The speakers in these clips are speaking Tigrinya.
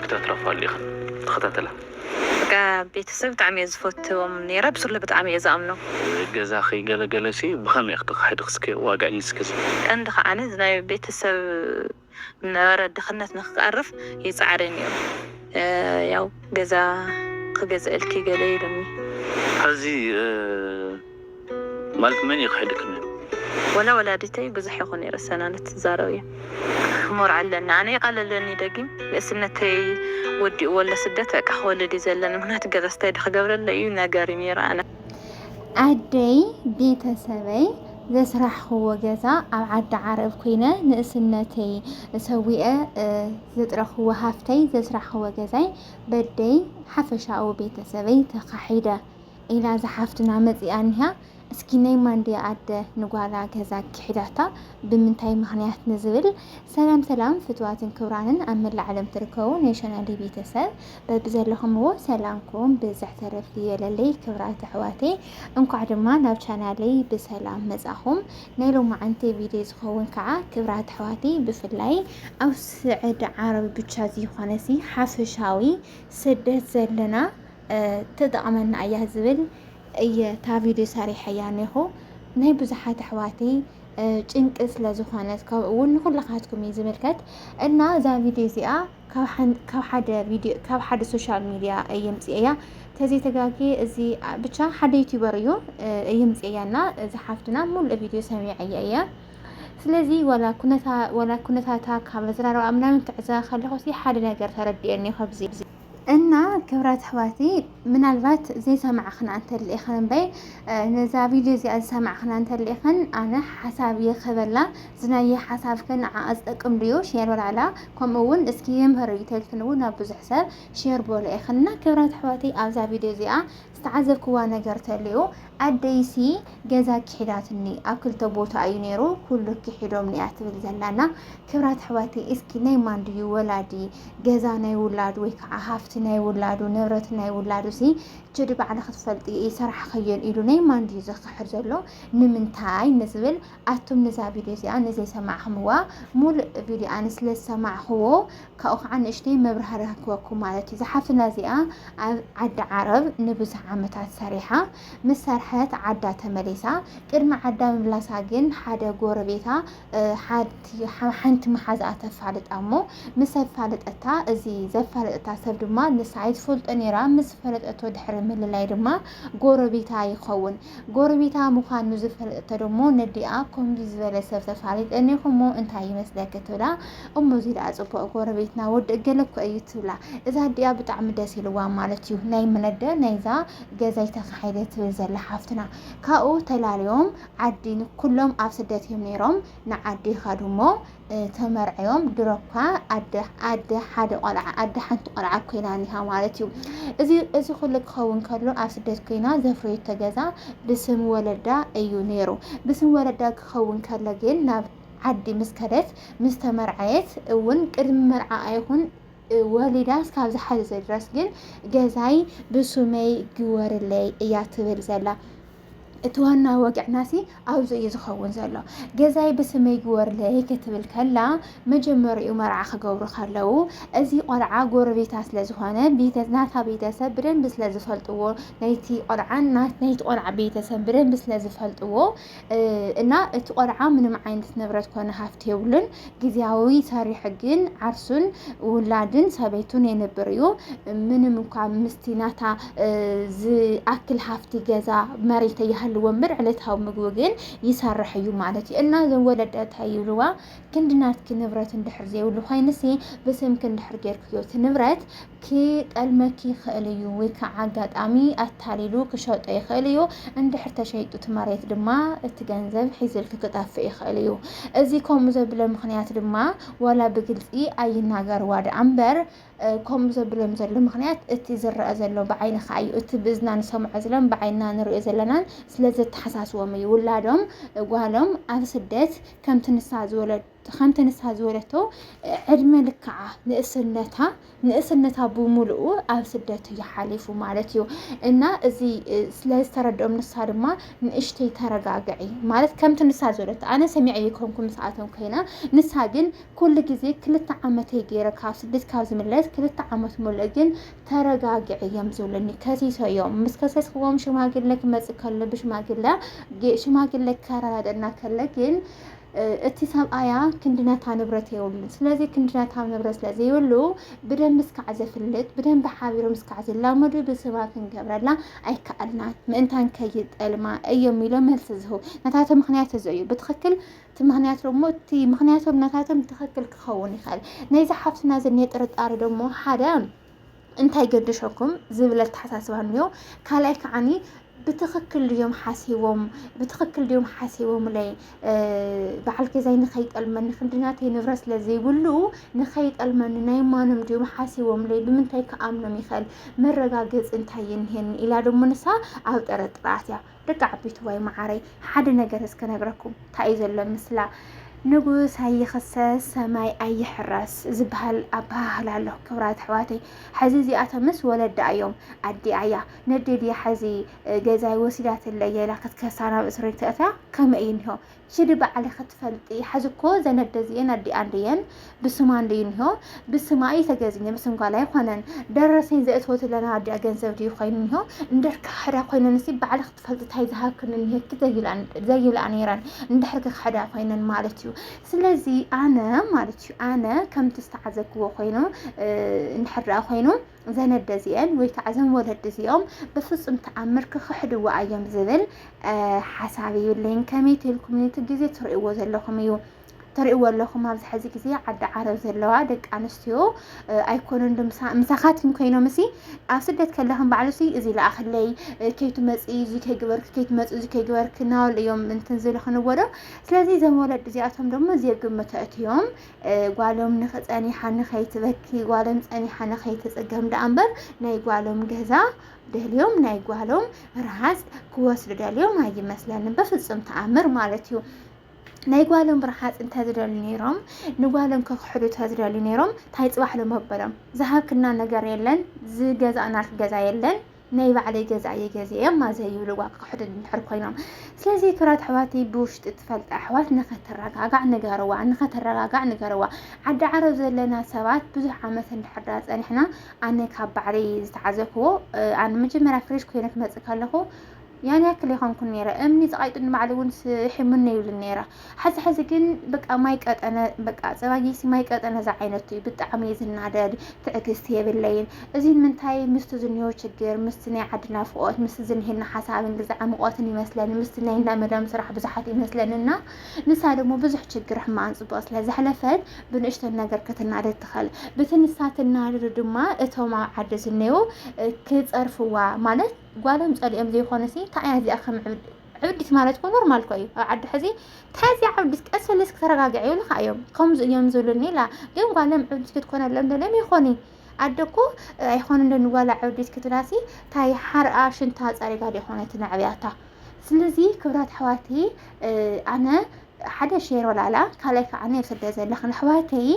ክታትራፋ ኣሎ ኢክን ተከታተላ። በቃ ቤተሰብ ብጣዕሚ እየ ዝፈትዎም ነይረ ብስሉ ብጣዕሚ እየ ዝኣምኖም። ገዛኺ ገለ ገለሲ ብኸመይ ኢኺ ተኻሒድኺ እስከ ዋግዕኒ እስከ። ቀንዲ ከኣ እዚ ናይ ቤተሰብ ዝነበረ ድኽነት ንክቀርፍ ይጻዕረ ነይሩ ያው ገዛ ክገዝኣልኪ ገለ ኢሉኒ። ሐዚ። ማለት መን እዩ ክሕደኪ ነሩ። ወላ ወላዲተይ ብዙሕ ይኹን ይርሰና ንትዛረብ እየ ሕሞር ኣለኒ ኣነ ይቀለለኒ ደጊም ንእስነተይ ወዲእዎ ኣሎ ስደት በቃ ክወልድ እዩ ዘለኒ ምክንያቱ ገዛስ እንታይ ዶ ክገብረለይ እዩ ነገር እዩ ነይሩ ኣነ ኣደይ ቤተሰበይ ዘስራሕኽዎ ገዛ ኣብ ዓዲ ዓረብ ኩነ ንእስነተይ ሰዊኤ ዘጥረኽዎ ሃፍተይ ዘስራሕኽዎ ገዛይ በደይ ሓፈሻኡ ቤተሰበይ ተኻሒደ ኢላ እዛ ሓፍትና መጺኣ እኒሃ እስኪ ናይ ማንድያ ኣደ ንጓላ ገዛ ኪሒዳታ ብምንታይ ምክንያት ንዝብል ሰላም ሰላም ፍትዋትን ክብራንን ኣብ መላእ ዓለም ትርከቡ ናይ ቻናለይ ቤተሰብ በብዘለኹምዎ ሰላምኩም ብዝሕ ተረፍ ይበለለይ ክብራት ኣሕዋተይ እንኳዕ ድማ ናብ ቻናለይ ብሰላም መጻኹም ናይ ሎማዓንቲ ቪድዮ ዝኸውን ከዓ ክብራት ኣሕዋተይ ብፍላይ ኣብ ስዕዲ ዓረብ ብቻ ዘይኾነሲ ሓፈሻዊ ስደት ዘለና ትጠቕመና እያ ዝብል እየ እታ ቪድዮ ሰሪሐያ ኔኹ ናይ ብዙሓት ኣሕዋተይ ጭንቂ ስለ ዝኾነት ከምኡ እውን ንኹላኻትኩም እዩ ዝምልከት እና እዛ ቪድዮ እዚኣ ካብ ሓደ ቪድዮ ካብ ሓደ ሶሻል ሚድያ እየምፅኤያ ተዘይተጋጌ እዚ ብቻ ሓደ ዩቲዩበር እዩ እየምፅኤያ እና እዚ ሓፍትና ሙሉእ ቪድዮ ሰሚዐያ እየ ስለዚ ወላ ኩነታታ ካብ ኣዘራርባ ምናምን ክዕዘባ ከለኹ ሓደ ነገር ተረዲኤኒ ከብዚ እና ክብራት ኣሕዋቲ ምናልባት ዘይሰማዕኽና እንተልኢኽን እምበይ ነዛ ቪድዮ እዚኣ ዝሰማዕኽና እንተልኢኽን ኣነ ሓሳብ ይኽበላ ዝናየ ሓሳብክን ንዓኣ ዝጠቅም ድዩ ሼር በላዕላ ከምኡ እውን እስኪ ይምህር እዩ ተልክን እውን ናብ ብዙሕ ሰብ ሼር በሎ ኢኽን እና ክብራት ኣሕዋቲ ኣብዛ ቪድዮ እዚኣ ዝተዓዘብክዋ ነገር ተልዩ ኣደይሲ ገዛ ኪሒዳትኒ ኣብ ክልተ ቦታ ኣዩ ነይሩ ኩሉ ኪሒዶምኒ እያ ትብል ዘላ እና ክብራት ኣሕዋተይ እስኪ ናይ ማን ድዩ ወላዲ ገዛ ናይ ውላዱ ወይ ከዓ ሃፍቲ ናይ ውላዱ ንብረት ናይ ውላዱ ሲ ችዲ ባዕለ ክትፈልጢ ይሰራሕኸዮን ኢሉ ናይ ማን ድዩ ዘክሕድ ዘሎ ንምንታይ ንዝብል ኣቱም ንዛ ቪድዮ እዚኣ ንዘይሰማዕክምዋ ሙሉእ ቪድዮ ኣነ ስለ ዝሰማዕክዎ ካብኡ ከዓ ንእሽተይ መብራህርሂ ክህበኩም ማለት እዩ እዛ ሓፍትና እዚኣ ኣብ ዓዲ ዓረብ ንብዙሕ ዓመታት ሰሪሓ ምስ ሰርሐት ዓዳ ተመሊሳ ቅድሚ ዓዳ ምምላሳ ግን ሓደ ጎረቤታ ሓንቲ መሓዛኣ ተፋልጣ እሞ ምስ ኣፋለጠታ እዚ ዘፋለጠታ ሰብ ድማ ንሳ ኣይትፈልጦ ነይራ ምስ ፈለጠቶ ድሕሪ ምልላይ ድማ ጎረቤታ ይኸውን ጎረቤታ ምዃን ንዝፈለጠቶ ደሞ ነዲኣ ከምዚ ዝበለ ሰብ ተፋሊጠኒ እሞ እንታይ ይመስለኪ ትብላ እሞ እዚ ደኣ ፅቡቅ ጎረቤትና ወዲ እገለ እኮ እዩ ትብላ እዛ ኣዲኣ ብጣዕሚ ደስ ኢልዋ ማለት እዩ ናይ ምነደ ናይዛ ገዛይ ተካሒደ ትብል ዘላ ሓፍትና ካብኡ ተላልዮም ዓዲ ኩሎም ኣብ ስደት እዮም ነይሮም ንዓዲ ይኸዱ እሞ ተመርዕዮም ድሮኳ ኣደ ኣደ ሓደ ቆልዓ ኣደ ሓንቲ ቆልዓ ኮይና ኒሃ ማለት እዩ እዚ እዚ ኩሉ ክኸውን ከሎ ኣብ ስደት ኮይና ዘፍረየቶ ገዛ ብስም ወለዳ እዩ ነይሩ ብስም ወለዳ ክኸውን ከሎ ግን ናብ ዓዲ ምስ ከደት ምስ ተመርዓየት እውን ቅድሚ መርዓ ኣይኹን ወሊዳ እስካብ ዝሓዘዘ ድረስ ግን ገዛይ ብሱመይ ግወርለይ እያ ትብል ዘላ እቲ ዋና ወግዕናሲ ኣብዚ እዩ ዝኸውን ዘሎ ገዛይ ብስመይ ግበርለይ ክትብል ከላ መጀመሪኡ መርዓ ክገብሩ ከለው እዚ ቆልዓ ጎረቤታ ስለዝኾነ ናታ ቤተሰብ ብደንቢ ስለዝፈልጥዎ ናይቲ ቆልዓ ናይቲ ቆልዓ ቤተሰብ ብደንቢ ስለዝፈልጥዎ እና እቲ ቆልዓ ምንም ዓይነት ንብረት ኮነ ሃፍቲ የብሉን ጊዜያዊ ሰሪሕ ግን ዓርሱን ውላድን ሰበይቱን የንብር እዩ። ምንም እኳ ምስቲ ናታ ዝኣክል ሃፍቲ ገዛ መሬት እያሃልዎ እምበር ዕለታዊ ምግቡ ግን ይሰርሕ እዩ ማለት እዩ እና እዞም ወለደታ ይብልዋ ክንድናትኪ ንብረት እንድሕር ዘይብሉ ኮይንሲ ብስምኪ እንድሕር ጌርክዮ እቲ ንብረት ኪጠልመኪ ይኽእል እዩ ወይ ከዓ ኣጋጣሚ ኣታሊሉ ክሸጦ ይኽእል እዩ። እንድሕር ተሸይጡ እቲ መሬት ድማ እቲ ገንዘብ ሒዝልኪ ክጠፍእ ይኽእል እዩ። እዚ ከምኡ ዘብለ ምኽንያት ድማ ዋላ ብግልፂ ኣይናገርዋ ደኣ እምበር ከምኡ ዘብሎም ዘሎ ምክንያት እቲ ዝረአ ዘሎ ብዓይኒ ከዓ እዩ እቲ ብእዝና ንሰምዖ ዝለን ብዓይና ንሪኦ ዘለናን ስለ ዘተሓሳስቦም እዩ ውላዶም ጓሎም ኣብ ስደት ከምቲ ንሳ ዝወለድ ከምቲ ንሳ ዝወለቶ ዕድመ ልክዓ ንእስነታ ንእስነታ ብምልኡ ኣብ ስደት እዩ ሓሊፉ ማለት እዩ እና እዚ ስለዝተረድኦም ንሳ ድማ ንእሽተይ ተረጋግዒ ማለት ከምቲ ንሳ ዝበለት ኣነ ሰሚዐ ይኮንኩ ምስኣቶም ኮይና ንሳ ግን ኩሉ ግዜ ክልተ ዓመት ገይረ ካብ ስደት ካብ ዝምለስ ክልተ ዓመት ሙሉእ ግን ተረጋግዒ እዮም ዝብሉኒ ከሲሶ እዮም ምስ ከሰስክዎም ሽማግለ ክመፅእ ከሎ ብሽማግለ ሽማግለ ከረዳድእና ከለ ግን እቲ ሰብኣያ ክንዲ ነታ ንብረት የብሉን። ስለዚ ክንዲ ነታ ንብረት ስለ ዘይብሉ ብደንቢ እስካዕ ዘፍልጥ ብደንቢ ሓቢሮም እስካዕ ዝላመዱ ብስማ ክንገብረላ ኣይከኣልናን ምእንታን ከይጠልማ እዮም ኢሎም መልሲ ዝህቡ ነታተ ምክንያት እዚ እዩ ብትክክል እቲ ምክንያት ደሞ እቲ ምክንያቶም ነታቶም ትክክል ክኸውን ይኽእል ናይዚ ሓፍትና ዝኒሀ ጥርጣረ ደሞ ሓደ እንታይ ገደሸኩም ዝብል ኣተሓሳስባ እኒኦ ካልኣይ ከዓኒ ብትኽክል ድዮም ሓሲቦም ብትኽክል ድዮም ሓሲቦምለይ በዓል ገዛይ ንኸይጠልመኒ ክንድናተይ ንብረት ስለ ዘይብሉ ንኸይጠልመኒ ናይ ማኖም ድዮም ሓሲቦምለይ ብምንታይ ክኣምኖም ይኽእል መረጋገፂ እንታይ ይንሄኒ ኢላ ደሞ ንሳ ኣብ ጠረጥራት እያ ደቂ ዓበይቲ ዋይ መዓረይ ሓደ ነገር እስከ ነግረኩም እንታይ እዩ ዘሎ ምስላ ንጉስ ኣይኽሰስ ሰማይ ኣይሕረስ ዝበሃል ኣበሃህላ ኣሎ ክብራት ኣሕዋተይ ሕዚ እዚኣቶምስ ወለዳ እዮም ኣዲኣ እያ ነዴድያ ሕዚ ገዛይ ወሲዳትለየ ኢላ ክትከሳ ናብ እስሪ ተእትያ ከመይ እዩ እኒሆ ሽዲ ባዕሊ ክትፈልጢ ሐዚ እኮ ዘን ኣደ እዚኤን ኣዲኣ እንድየን ብስማ እንድዩ እኒሆ ብስማ እዩ ተገዚኘ ብስም ጓል ኣይኮነን ደረሰኝ ዘእትወት ለና ኣዲኣ ገንዘብ ድዩ ኮይኑ እኒሆ እንድሕር ክሕዳ ኮይነን እሲ ባዕሊ ክትፈልጢ ታይ ዝሃብክን እኒሄኪ ዘይብላ ነይረን እንድሕር ክሕዳ ኮይነን ማለት እዩ ስለዚ ኣነ ማለት እዩ ኣነ ከምቲ ዝተዓዘብክዎ ኮይኑ እንድሕር ኮይኑ እዘን ኣደ እዚኤን ወይ ከዓ እዘን ወለዲ እዚኦም ብፍፁም ተኣምር ክኽሕድዎ ኣዮም ዝብል ሓሳብ እዩ ለይን ከመይ ተልኩም ነቲ ግዜ ትርእይዎ ዘለኹም እዩ ትርእይዎ ኣለኹም ኣብዚ ሕዚ ግዜ ዓዲ ዓረብ ዘለዋ ደቂ ኣንስትዮ ኣይኮነን ዶ ምሳኻትኩም ኮይኖም እሲ ኣብ ስደት ከለኹም ባዕሉ ሲ እዚ ለኣኽለይ ከይትመፅ እዚ ከይግበርክ ከይትመፅ እዚ ከይግበርክ ናበሉ እዮም እንትን ዝልኽንዎ ዶ ስለዚ እዞም ወለዲ እዚኣቶም ደሞ ዘየግምቶ እትዮም ጓሎም ንክፀኒሓኒ ከይትበኪ ጓሎም ፀኒሓኒ ከይትፅገም ደኣ እምበር ናይ ጓሎም ገዛ ደልዮም ናይ ጓሎም ረሃፅ ክወስዱ ደልዮም ኣይመስለንን በፍፁም ተኣምር ማለት እዩ ናይ ጓሎም ብርሓፅ እንተዝደልዩ ነይሮም ንጓሎም ከክሕዱ ተዝደልዩ ነይሮም ታይ ፅባሕ ሎ መበሎም ዝሃብክና ነገር የለን ዝገዛእናልክ ገዛ የለን ናይ ባዕለይ ገዛ እየ ገዚኤ ማዘይ ይብልዋ ክክሕዱ እንድሕር ኮይኖም ስለዚ ክብራት ኣሕዋተይ ብውሽጢ ትፈልጣ ኣሕዋት ንኸተረጋጋዕ ንገርዋ ንኸተረጋጋዕ ንገርዋ ዓዲ ዓረብ ዘለና ሰባት ብዙሕ ዓመት እንድሕር ዳ ፀኒሕና ኣነ ካብ ባዕለይ ዝተዓዘብክዎ ኣነ መጀመርያ ፍሬሽ ኮይነ ክመፅእ ከለኹ ያን ያክል ኣይኮንኩን ነይረ እምኒ ፀቃይጡ ንባዕሉ እውን ስሒሙኒ ይብሉ ነይረ ሓዚ ሓዚ ግን በቃ ማይ ቀጠነ በቃ ፀባጊሲ ማይ ቀጠነ ዝዓይነቱ እዩ ብጣዕሚ እዩ ዝናደድ ትዕግስቲ የብለይን እዚ ንምንታይ ምስቲ ዝኒሆ ችግር ምስቲ ናይ ዓዲ ናፍቆት ምስቲ ዝኒሄና ሓሳብን ግዛዕ ምቆትን ይመስለኒ ምስቲ ናይ እንዳ መዳም ስራሕ ብዙሓት ይመስለኒ እና ንሳ ደግሞ ብዙሕ ችግር ሕማን ፅቡቅ ስለ ዘሕለፈት ብንእሽተን ነገር ክትናደድ ትኽእል ብቲ ንሳ ትናደዱ ድማ እቶም ኣብ ዓዲ ዝኔው ክፀርፍዋ ማለት ጓሎም ጸሊኦም ዘይኮነሲ ታይ እያ እዚኣ ከም ዕብድ ዕብዲት ማለት እኮ ኖርማል እኮ እዩ ኣብ ዓዲ ሕዚ ታይ እዚኣ ዕብዲት ቀስ በለስ ክተረጋግዕ ይብሉካ እዮም ከምዚ እዮም ዝብሉኒ ኢላ ግን ጓሎም ዕብዲት ክትኮነሎም ደልዮም ይኮኒ ኣደ እኮ ኣይኮነን ዶ ንጓላ ዕብዲት ክትብላሲ ታይ ሓርኣ ሽንታ ጸሪጋ ዶ ይኮነት ነዕብያታ ስለዚ ክብራት ኣሕዋቲ ኣነ ሓደ ሼር ወላላ ካልኣይ ከዓ ንስደት ዘለኽን ኣሕዋተይ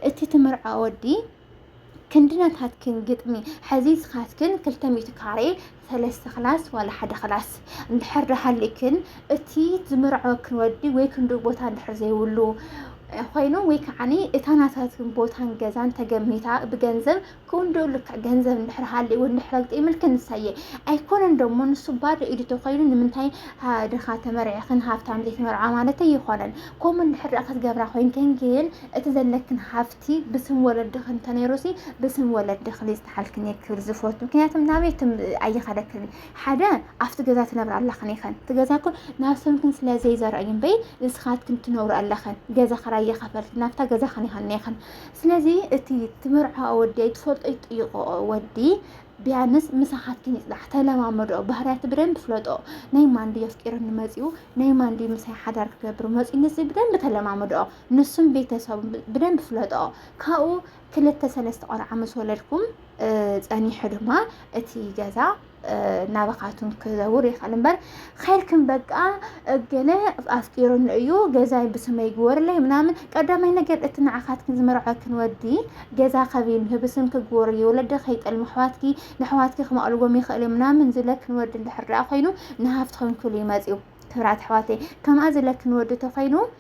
እቲ ትምርዖ ወዲ ክንድነታትክን ግጥሚ ሐዚ ስኻትክን ክልተ ሚእቲ ካሬ ሰለስተ ክላስ ዋላ ሓደ ክላስ እንድሕር ዳሃሊክን እቲ ዝምርዐወክን ወዲ ወይ ክንዱ ቦታ እንድሕር ዘይብሉ ኮይኑ ወይ ከዓኒ እታ ናታትን ቦታን ገዛን ተገሚታ ብገንዘብ ክንድኡ ልክዕ ገንዘብ እንድሕር ሃልእዎ እንድሕር ኣግጢምልክ ንሳየ ኣይኮነን ደሞ ንሱ ባዶ ኢዱ ተኮይኑ ንምንታይ ድኻ ተመርዕኽን ሃብታም ዘይትመርዓ ማለት ኣይኮነን ከምኡ እንድሕር ክትገብራ ኮይንክን ግን እቲ ዘለክን ሃፍቲ እቲ ብስም ወለድኺ እንተነይሩሲ ብስም ወለድኺ ዘይዝተሓልክን እየ ክብል ዝፈቱ ምክንያቱም ናበይክን ኣይኸደክን ሓደ ኣብቲ ገዛ ትነብር ኣለኽን ይኸን እቲ ገዛ ኮ ናብ ስምክን ስለ ዘይዘርእ እዩ እምበይ ንስኻትክን ትነብሩ ኣለኽን ገዛ ክራይ የኸፈልቲ ናብታ ገዛ ኸን ይኸን ይኸን ስለዚ እቲ ትምርዖ ወዲ ኣይትፈልጦ ይጥይቆ ወዲ ቢያንስ ምሳኻትክን ይፅናሕ ተለማመዶ ባህርያቱ ብደንብ ፍለጦ ናይ ማንዲ የፍቂርኒ መፂኡ ናይ ማንዲ ምሳይ ሓዳር ክገብር መፂኡ ንዚ ብደንብ ተለማመዶ ንሱን ቤተሰቡን ብደንብ ፍለጦ ካብኡ ክልተ ሰለስተ ቆልዓ ምስ ወለድኩም ፀኒሑ ድማ እቲ ገዛ ናባኻቱን ክዘውር ይኽእል እምበር ኸይርክን በቃ እገለ ኣፍቂሩኒ እዩ ገዛይ ብስመይ ግበርለይ ምናምን ቀዳማይ ነገር እቲ ንዓኻትክን ዝመርዐክን ወዲ ገዛ ከቢን ህብስም ክግበሩ እዩ ወለደ ከይጠልሙ ኣሕዋትኪ ንኣሕዋትኪ ክመቕልዎም ይኽእል እዩ ምናምን ዝለክን ወዲ እንድሕር ኮይኑ ንሃፍትኸን ክሉ ይመፅኡ ክብራት ኣሕዋተይ ከምኣ ዝለክን ወዲ ተኾይኑ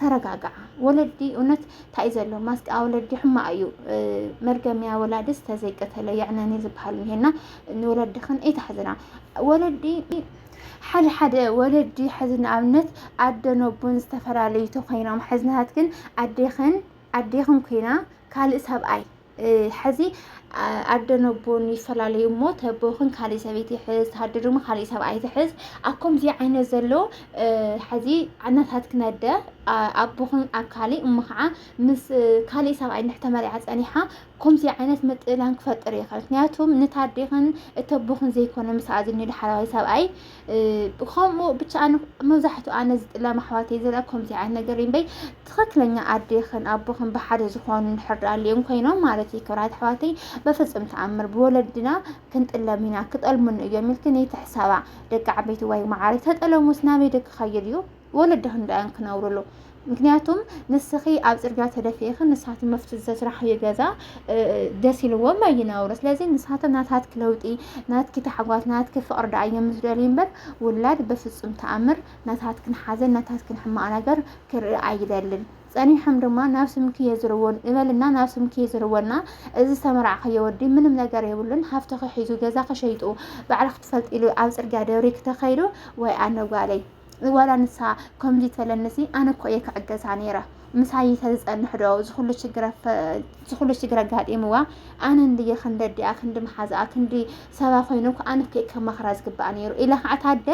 ተረጋግዓ ወለዲ እውነት እንታይ ዘሎ ማስቃ ወለዲ ሕማቅ እዩ መርገምያ ወላድስ ተዘይቀተለ የዕነኒ ዝበሃል እኒሄና ንወለድኽን ኣይተሕዝና ወለዲ ሓደ ሓደ ወለዲ ሕዚ ንኣብነት ኣደን ኣቦን ዝተፈላለዩ ተኮይኖም ሕዝናሃት ግን ኣዴኽን ኣዴኽን ኮይና ካልእ ሰብኣይ ሐዚ ኣደ ነቦን ይፈላለዩ እሞ ተቦኽን ካሊእ ሰበይቲ ይሕዝ ተሃድር ድማ ካሊእ ሰብኣይ ትሕዝ ኣብ ከምዚ ዓይነት ዘሎ ሐዚ እናታትክን ኣደ ኣቦኽን ኣብ ካሊእ እሞ ከዓ ምስ ካሊእ ሰብኣይ እንድሕር ተመሪዓ ፀኒሓ ከምዚ ዓይነት ምጥላን ክፈጥር ይኽእል ምክንያቱም ንታዴኽን እተቦኽን ዘይኮነ ምስኣ ዝኒሉ ሓላዋይ ሰብኣይ ከምኡ ብቻ ኣነ መብዛሕትኡ ኣነ ዝጥለም ኣሕዋተይ ዘለ ከምዚ ዓይነት ነገር እምበይ ትኽክለኛ ኣዴኽን ኣቦኽን ብሓደ ዝኾኑ ንሕር ኣልኦም ኮይኖም ማለት እዩ ክብራት ኣሕዋተይ በፍፅም ተኣምር ብወለድና ክንጥለም ኢና ክጠልሙን እዮም ኢልክን ይትሕሰባ ደቂ ዓበይቲ ወይ መዓረይ ተጠለሙስ ናበይ ደክኸይድ እዩ ወለድኽን ዳያን ክነብርሉ ምክንያቱም ንስኺ ኣብ ፅርግያ ተደፊኢኺ ንሳቶም መፍት ዘስራሕዮ ገዛ ደስ ኢልዎም ኣይነብሩ ስለዚ ንሳቶም ናታትኪ ለውጢ ናትኪ ታሕጓት ናትኪ ፍቕሪ ዳኣ እዮም ዝደልዩ እምበር ውላድ በፍፁም ተኣምር ናታትክን ሓዘን ናታትክን ሕማቕ ነገር ክርኢ ኣይደልን ጸኒሖም ድማ ናብ ስምኪ የዝርዎን እበልና ናብ ስምኪ የዝርወና እዚ ዝተመራዕኸዮ ወዲ ምንም ነገር የብሉን ሃፍቲ ክሒዙ ገዛ ክሸይጡ ባዕልክ ትፈልጥ ኢሉ ኣብ ፅርግያ ደብሪ ክተኸይዱ ወይ ኣነጓለይ ዋላ ንሳ ከምዚ ተለንሲ ኣነ እኮ እየ ክዕገሳ ነይረ ምሳይ ተዝፀንሕ ዶ ዝኩሉ ሽግር ኣጋጢምዋ ኣነ እንድየ ክንደዲኣ ክንዲ መሓዝኣ ክንዲ ሰባ ኮይኑ እኮ ኣነ እኮ ከማኽራ ዝግባእ ነይሩ ኢላ ከዓ ታደ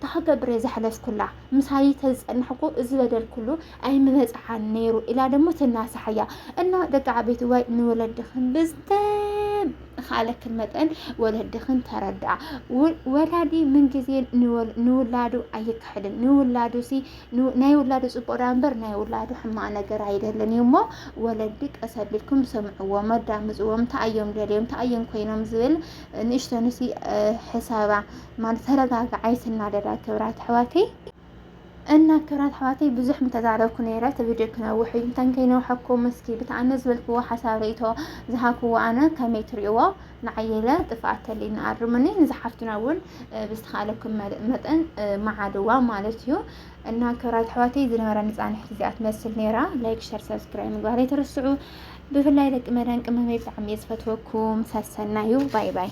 ታክገብር እየ ዘሕለፍኩላ ምሳይ ተዝፀንሕ እኮ እዚ በደል ኩሉ ኣይምበፅሓን ነይሩ ኢላ ደሞ ትናሳሓያ እና ደቂ ዓበይቲ ዋይ ንወለድኽን ብዝተኻለክን መጠን ወለድኽን ተረድኣ ወላዲ ምንግዜ ንውላዱ ኣይክሕድን ንውላዱ ሲ ናይ ውላዱ ፅቡቅ ዳ እምበር ናይ ውላዱ ሕማቅ ነገር ኣይደልን እዩ እሞ ወለዲ ቀስ ኣቢልኩም ሰምዕዎም ኣዳምፅዎም እንታይ እዮም ደልዮም እንታይ እዮም ኮይኖም ዝብል ንእሽተንሲ ሕሳባ ማለት ተረጋግዓ ይትናደዳ ክብራት ኣሕዋተይ እና ክብራት ኣሕዋተይ ብዙሕ ምተዛረብኩ ነይረ እቲ ቪድዮ ክነውሕ እዩ እንተን ከይነውሐኩም እስኪ ብቲ ኣነ ዝበልክዎ ሓሳብ ርእይቶ ዝሃብክዎ ኣነ ከመይ ትሪእዎ ንዓየለ ጥፍኣት ተልዩኒ ኣርሙኒ ንዝሓፍትና እውን ብዝተኻለኩም መጠን መዓድዋ ማለት እዩ እና ክብራት ኣሕዋተይ ዝነበረ ንፃንሒት እዚኣ ትመስል ነይራ ላይክ ሸር ሰብስክራይብ ምግባር ኣይትርስዑ ብፍላይ ደቂ መዳን ቅመመይ ብጣዕሚ እየ ዝፈትወኩም ሰሰናዩ ባይ ባይ